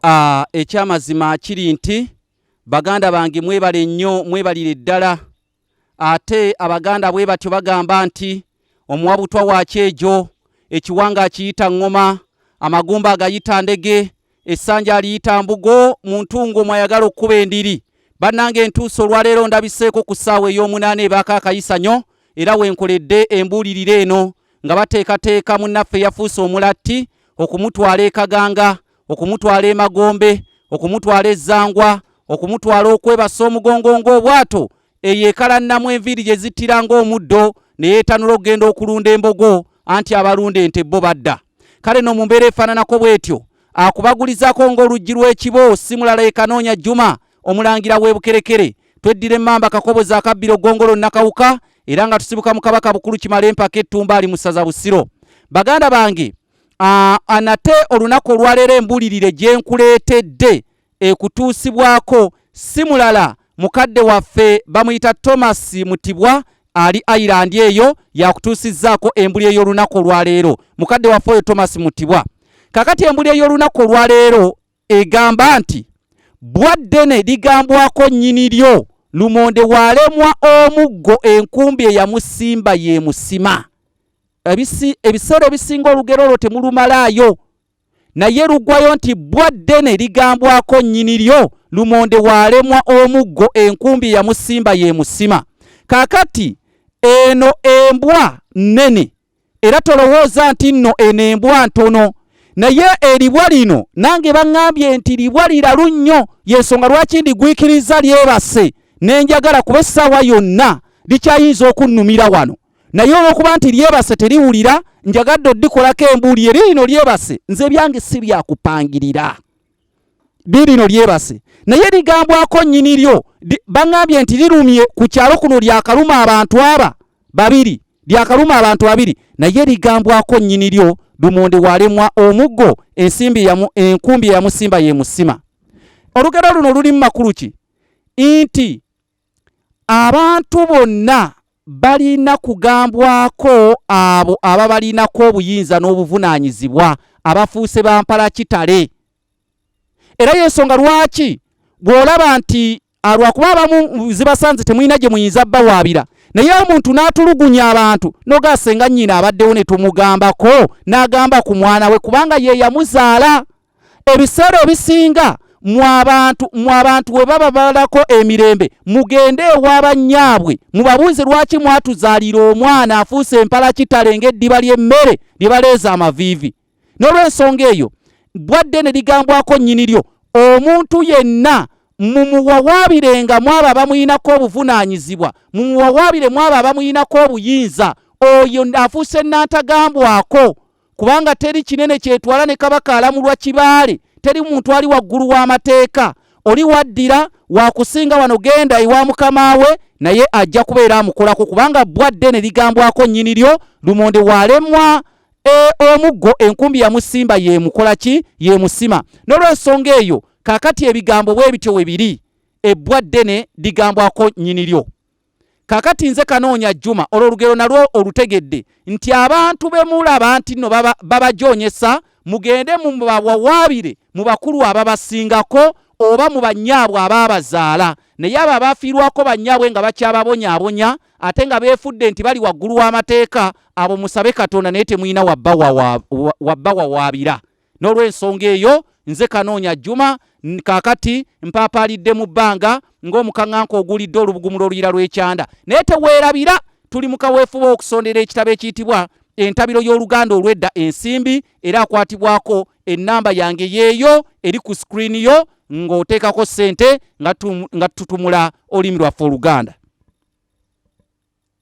Ah, ekyamazima kiri nti baganda bange mwebale nnyo mwebalire ddala ate abaganda bwe batyo bagamba nti omuwa butwa wakyejo ekiwanga akiyita ŋŋoma amagumba agayita ndege essanja aliyita mbugo mu ntungo mwayagala okukuba endiri bannanga entuusa olwaleero ndabiseeko ku ssaawa ey'omunaana ebaako akayisanyo era wenkoledde embuulirira eno nga bateekateeka munnaffe yafuuse omulatti okumutwala e Kaganga, okumutwala e Magombe, okumutwala e Zangwa, okumutwala okwebasa omugongo ng'obwato eyo ekalannamu enviiri gye zittira ng'omuddo ne yeetanula okugenda okulunda embogo anti abalunda ente bo badda kale no mu mbeera efaananako bw'etyo akubagulizaako ng'oluggi lw'ekibo simulala ekanoonya juma omulangira w'e bukerekere tweddira emmamba kakobozi akabbiro gongolo nakawuka era nga tusibuka mu kabaka bukulu kimala empaka ettumba ali mu ssaza busiro baganda bange anate olunaku olwaleero embulirire gye nkuleetedde ekutuusibwako si mulala mukadde waffe bamuyita thomas mutibwa ali ireland eyo yakutuusizzaako embuli ey'olunaku olwaleero mukadde waffe oyo thomas mutibwa kakati embuli ey'olunaku olwaleero egamba nti bbwa ddene ligambwako nnyini lyo lumonde waalemwa omuggo enkumbi eyamusimba yeemusima ebiseera ebisinga olugero olwo temulumalaayo naye lugwayo nti bbwa ddene ligambwako nnyini lyo lumonde waalemwa omuggo enkumbi eyamusimba yeemusima kakati eno embwa nnene era tolowooza nti nno eno embwa ntono naye eribwa lino nange baŋŋambye nti libwa liralu nnyo y'ensonga lwaki ndigwikirizza lyebase ne njagala kuba essaawa yonna likyayinza okunnumira wano naye olw'okuba nti lyebase teriwulira njagadde oddikolako embuuli eri lino lyebase nze ebyange si byakupangirira lirino lyebase naye ligambwako nyini lyo bangambye nti lirumye ku kyalo kuno lyakaluma abantu aba babiri lyakaluma abantu babiri naye ligambwako nyini lyo lumonde walemwa omuggo ensimbi yamu enkumbi yamusimba yemusima olugero luno luli mu makulu ki nti Abantu bonna balina kugambwako abo ababalinako obuyinza n'obuvunaanyizibwa abafuuse ba mpalakitale. Era y'ensonga lwaki bw'olaba nti lwakuba abamu zibasanze temulina gye muyinza bawaabira naye omuntu n'atulugunya abantu noga senga nnyina abaddewo ne tumugambako n'agamba ku mwana we kubanga ye yamuzaala. ebiseera ebisinga mwabantu mwabantu we baba balako emirembe mugende ewa bannyaabwe mubabuuze lwaki mwatuzaalira omwana afuuse empala kitale ng'eddiba ly'emmere lye baleeza amaviivi n'olwensonga eyo bwadde ne ligambwako nnyini lyo omuntu yenna mumuwawaabirenga mwaba abamuyinako obuvunaanyizibwa mumuwawaabire mwaba abamuyinako obuyinza oyo afuuse nnantagambwako kubanga teri kinene kyetwala ne kabaka alamulwa kibaale teri muntu ali waggulu w'amateeka oli waddira wakusinga wano genda ewa mukama we naye ajja kubeera amukolako kubanga bbwa ddene ligambwako nnyini lyo lumonde walemwa e, omuggo enkumbi yamusimba yemukola ki yemusima n'olwensonga eyo kakati ebigambo bwe bityo we biri ebbwa ddene ligambwako nnyini lyo kakati nze kanoonya juma olwo olugero nalwo olutegedde nti abantu bemulaba nti no babajonyesa baba mugende mubawawaabire mu bakulu ababasingako oba mu bannyaabwe abaabazaala naye abo abaafiirwako bannyaabwe nga bakyababonyaabonya ate nga beefudde nti bali waggulu w'amateeka abo musabe katonda naye temulina wabbawawaabira N'olw'ensonga eyo, nze Kanoonya Juma kaakati mpaapaalidde mu bbanga ng'omukaŋŋanka oguulidde olubugumu lw'oluyiira lw'ekyanda. Naye teweerabira, tuli mu kaweefube w'okusondera ekitabo ekiyitibwa Entabiro y'Oluganda olw'Edda ensimbi era akwatibwako ennamba yange y'eyo eri ku sikirini yo ng'oteekako ssente nga tututumula olulimi lwaffe Oluganda.